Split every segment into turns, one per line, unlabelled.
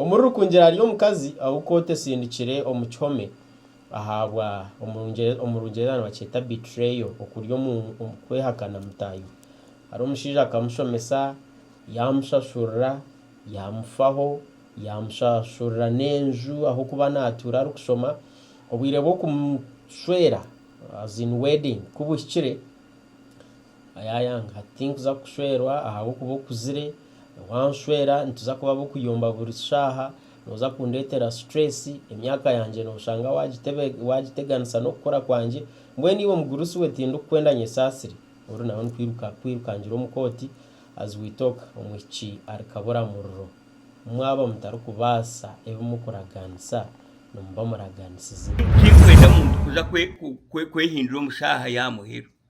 Omuri Rukungira hariyo omukazi ou kooti esindikire omu kihome ahabwa, omu Rungyereza nibakyeta betrayal, okurya omu, kwehakana mutaahi we. Hariho omushaija akamushomesa, yaamushashurira, yaamufaho, yaamushashurira n'enju ah'okuba naatuura arikushoma. Obwire bw'okumu shwera, as in wedding, ku buhikire, Ayayanga ati, Tinkuza kukushwerwa ahabw'okuba okuzire. Wanshwera nituza kuba ab'okuyomba buri shaaha. Nooza kundeetera situreesi. Emyaka yangye nooshanga waagiteganisa n'okukura kwangye. Mbwenu iwe mugurusi we tindikukwenda nyesaasire. Oru nawe ni kwiruka kwirukangira omu kooti. As we talk, omwishiki ari kabura muriro. Mwaba mutarikubaasa ebi murikuraganisa, nimuba muraganisize. Titurikwenda muntu
kuza kwehindura omu shaaha ya muheru.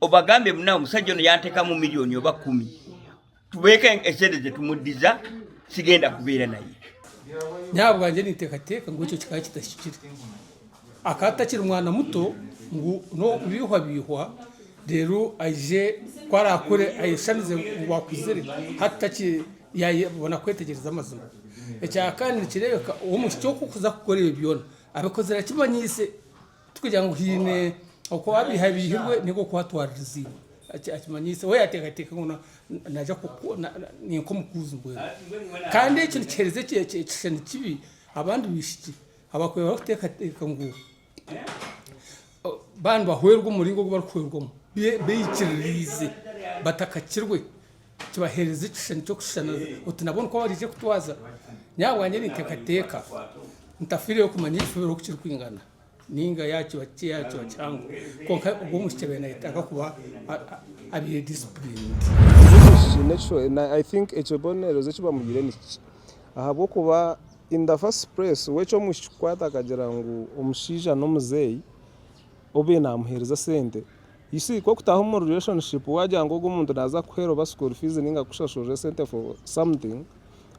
Obagambe ngu nawe omushaija onu yantekamu milioni oba kumi tubeke esente ze tumudiza sigenda kubera naye. Nyowe ahabwangye
nintekateka ngu ekyo kikaba kitahikire. Akaba atakiri mwana muto ngu nowokubihwabihwa reero aije ku arakure ayeshamize ngu akuzire hati takiri yabona kwetegyereza amazima. Ekyakabiri nikirebeka omwishiki oku okuza kukora ebyo byona abikozire akimanyise. Tikugira ngu haine oku abaihabiihirwe nainga oku atwaririziibwe. Akimanyisa we yaateekateeka ngu naaza ni nk'omukuuzi mbwenu. Kandi ekyo nikiheereza ekishushani kibi abandi baishiki abarikuba barikuteekateeka ngu baaba nibahwerwa omu muringo ogu barikuhwerwamu beikiririize batakakirwe. kibahereza ekishushani ky'okushushana oti nabwo nikwo baraije kutwaza. Nyowe ahabwangye nintekateka ntafireyo kumanya ekifubiro oku kirikwingana ninga yakiba kikye yakiba kihango konka obwo omwishiki abaire nayetaaga kuba abire disciplined.
I think ekibonerezo eki bamuhaire nikikye ahabw'okuba in the first place we eky'omwishiki kukwata akagira ngu omushaija n'omuzeeyi obaire namuhereza sente Isi, ku okutaha omu relationship waagira ngu ogu omuntu naaza kukuheera oba school fees ninga kukushashurira esente for something,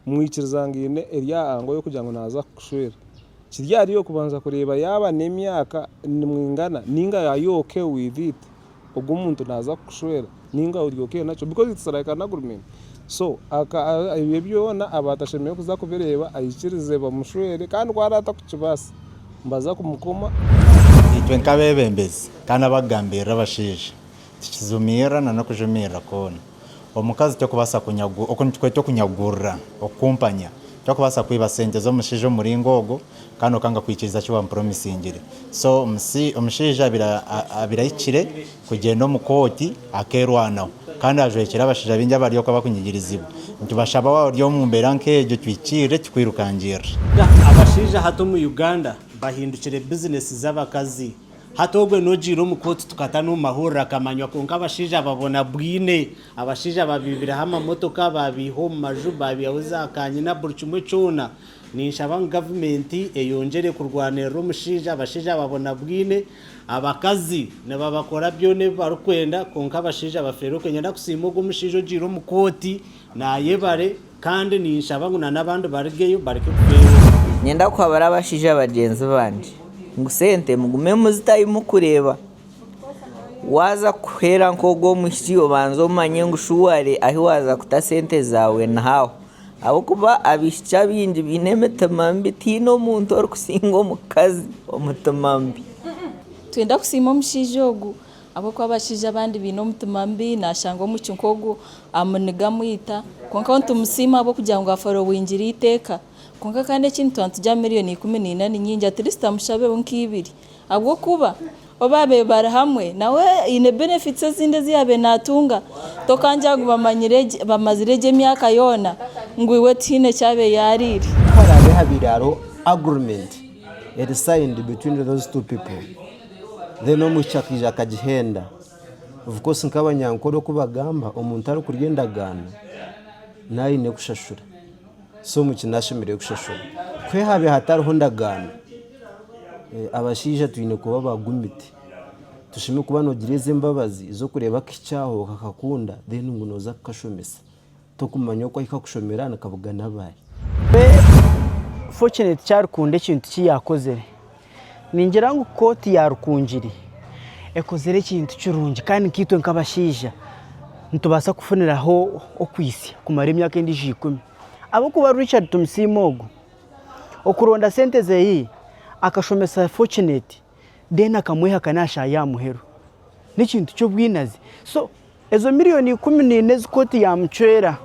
mwikiriza ngu aine eri aha angle y'okugira ngu naaza kukushwera. Kiri ahari iwe kubanza kureeba yaaba n'emyaka nimwingana ninga are you okay with it ogu omuntu naaza kukushwera ninga ori okay nakyo because it's like an agreement. So aka ebyo byona aba atashemereire kuza kubireeba aikirize bamushwere kandi ku araba atakukibaasa nibaza kumukoma. Itwe
nk'abeebembezi kandi abakugambirira abashaija, tukijumiirira na n'okujumiirira kwona. Omukazi tokubaasa kunyagura, oku nitukweta okunyagurira, okukumpanya. Tokubaasa kwiba sente z'omushaija omu muringo ogwo kandi okanga kwikiriza eki waamupromisingire. So omushaija abaire ahikire kugyenda omu kooti akeerwanaho kandi ajwekire abashaija baingi abari okwo abakunyigirizibwa. Nitubashaba waaba ori omu mbeera nk'egyo tuhikiirire kikwirukangirire. Abashaija
hati omu Uganda bahindukire bizinesi z'abakazi. Hati ogwe n'ogiire omu kooti tukata n'omu mahurire akamanywa kwonka abashaija ababona bwine. Abashaija babiibireho amamotoka, baabaiha omu maju, baabiihaho za kanyina buri kimwe kyona. Ninshaba ngu gavumenti eyongyere kurwanirira omushaija, abashaija ababona bwine, abakazi nibabakora byona ebi barikwenda kwonka abashaija bafeere okwe. Niinyenda kusiima ogwo mushaija ogiire omu kooti naayebare kandi ninshaba ngu nana abandi barigeyo bareke kufeera oku. Niinyenda kuhabura
abashaija bagyenzi bangye ngu sente mugume muzitayo mukureeba waaza kuhwera nk'ogwo mwishiki obanze omanye ngu shuwari ahu waaza kuta sente zaawe nihaaha. Ahabw'okuba abaishiki abaingi baine emitima mibi, tihaine omuntu orikusiinga omukazi omutima mubi. Nitwenda
kusiima omushaija ogu ahabw'okuba abashaija abandi baine omutima mubi, naashanga omwishiki nk'ogwo amuniga amwita. Kwonka ahu nitumusiima ahabw'okugira ngu afora obwingira eiteeka. Kwonka kandi ekindi twantugya miliyoni ikumi na ina ni nyingi, atleast amushabeho nk'eibiri Ahabw'okuba obu baabaire bari hamwe nawe haine benefits ezindi ezi yaabaire naatunga. Tokangira ngu bamanyire gye, bamazire gye emyaka yoona ngu iwe tihaine eki abaire yaariire. Ku haraabe habaire
hariho agreement eri signed between those two people, then omwishiki akaija akagihenda, of course nk'abanyankore oku bagamba, omuntu arikurya endagaano nawe aine kushashura. Si omu kinu ashemereire kushashura. Kwe haabe hatariho ndagaano, abashaija twine kuba ba gumiti. Toshemeriire kuba noogira ezo embabazi ez'okureeba akaishiki kyawe okakakunda then ngu nooza kukashomesa. Tokumanya oku ahika kushomera nikabugana abari.
Fortunate ku arikukunda ekintu ki yaakozire. Ningira ngu kooti ya Rukungiri ekozire ekintu kirungi kandi nkaitwe nk'abashaija nitubaasa kufuniraho okwitsya kumara emyaka endiijo ikumi. Ahabw'okuba Richard Tumusiime ogu, okuronda sente ze akashomesa Fortunate reero akamwehaka naashaaha aha muheru, n'ekintu ky'obwinazi. So ezo milioni ikumi na ina ezi kooti yaamucwera,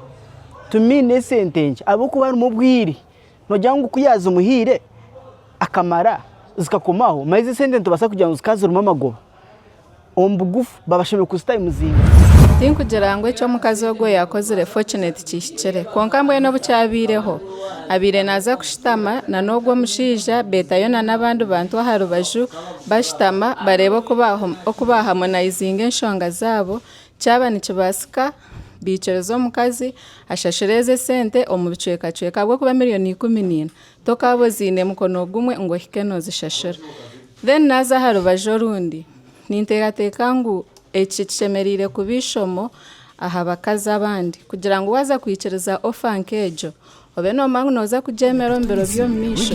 to me n'esente nkye ahabw'okuba harimu obwire. Noogira ngu ku yaazimuhaire akamara zikakomaho? Manya ezi esente nitubaasa kugira ngu zikaba zirimu amagoba. Omu bugufu, baaba bashemereire kuzita omu muzinga. Tinkugira
ngu eki omukazi ogwo yaakozire Fortunate kihikire. Kwonka mbwenu obu kyabaireho, abaire naaza kushutama na n'ogwo omushaija, beetayo na n'abandi bantu aha rubaju, bashutama bareebe oku baahamonaizinga enshonga zaabo, Kyaba nikibaasika, baikiriza omukazi ashashura ezo esente omu bicwekacweka ahabw'okuba miriyoni ikumi naina tokaaba oziine mukono gumwe ngu ohike noozishashura. Then naaza aha rubaju orundi, ninteekateeka ngu eki kishemereire kuba eishomo aha bakazi abandi kugira ngu waaza kwikiriza offer nk'egyo, obe noomanya ngu nooza kugyemera omu biro
by'omumaisho.